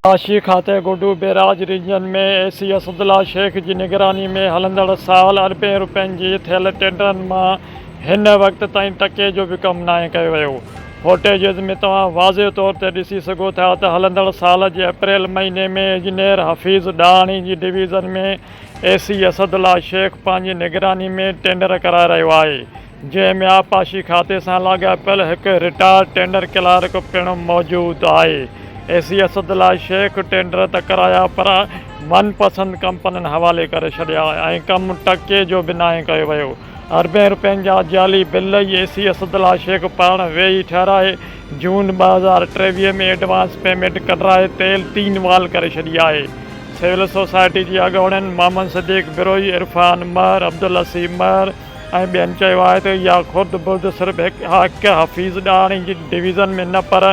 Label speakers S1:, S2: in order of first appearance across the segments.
S1: معاشي کاتي Guddu barrage region ۾ A C Asadullah Shaikh جي نگراني ۾ هلندڙ سال اربين روپين جي ٿيل ٽينڊرن مان هن وقت تائين ٽڪي جو به ڪم ناهي ڪيو ويو فوٽيجز ۾ توهان واضح طور تي ڏسي سگهو ٿا ته هلندڙ سال جي اپريل مهيني ۾ اجنير حفيظ ڏاهاڻي جي division ۾ A C Asadullah Sheikh پنهنجي نگراني ۾ ٽينڊر ڪرائي رهيو آهي جنهن ۾ آبپاشي کاتي سان لاڳاپيل هڪ رٽائرڊ ٽينڊر ڪلارڪ پڻ موجود آهي. A C Asadullah Sheikh tender ته ڪرايا پر من پسند ڪمپنين حوالي ڪري ڇڏيا ۽ ڪم ٽڪي جو به ناهي ڪيو ويو. اربين رپين جا جعلي bill A C Asadullah Sheikh پاڻ ويهي ٺهرائي جون ٻه هزار ٽيويهه ۾ ايڊوانس پيمينٽ ڪڍرائي تيل تين وال ڪري ڇڏي آهي. سول سوسائٽي جي اڳوڻين محمد صديق بروهي، عرفان مهر، عبدالحسيب مهر، ۽ ٻين چيو آهي ته اها خرد برد صرف هڪ حفيظ ڏاهري جي ڊويزن ۾ نه پر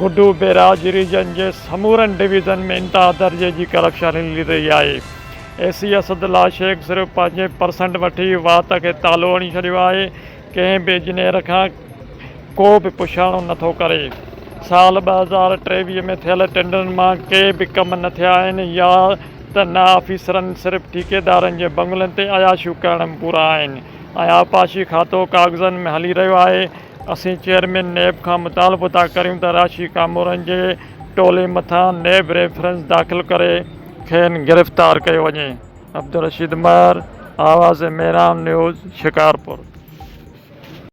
S1: گڊو بيراج ريجن جي سمورن ڊويزن ۾ انتها درجي جي ڪرپشن هلي رهي آهي. اي سي اسد الله شيخ صرف پنهنجي پرسنٽ وٺي وات کي تالو هڻي ڇڏيو آهي، ڪنهن به اجنيئر کان ڪو به پڇاڻو نه ٿو ڪري. سال ٻه هزار ٽيويهه ۾ ٿيل ٽينڊرن مان ڪي به ڪم نه ٿيا آهن يا ته نه آفيسرن صرف ٺيڪيدارن جي بنگلن تي عياشيون ڪرڻ ۾ پورا آهن ۽ آبپاشي کاتو ڪاغذن ۾ هلي رهيو آهي اسين چيئرمين نيب کان مطالبو ٿا ڪريون ته راشي ڪامورن جي ٽولي مٿان نيب ريفرنس داخل ڪري کين گرفتار ڪيو وڃي. عبدالرشيد مهر، آواز ميران نيوز، شڪارپور.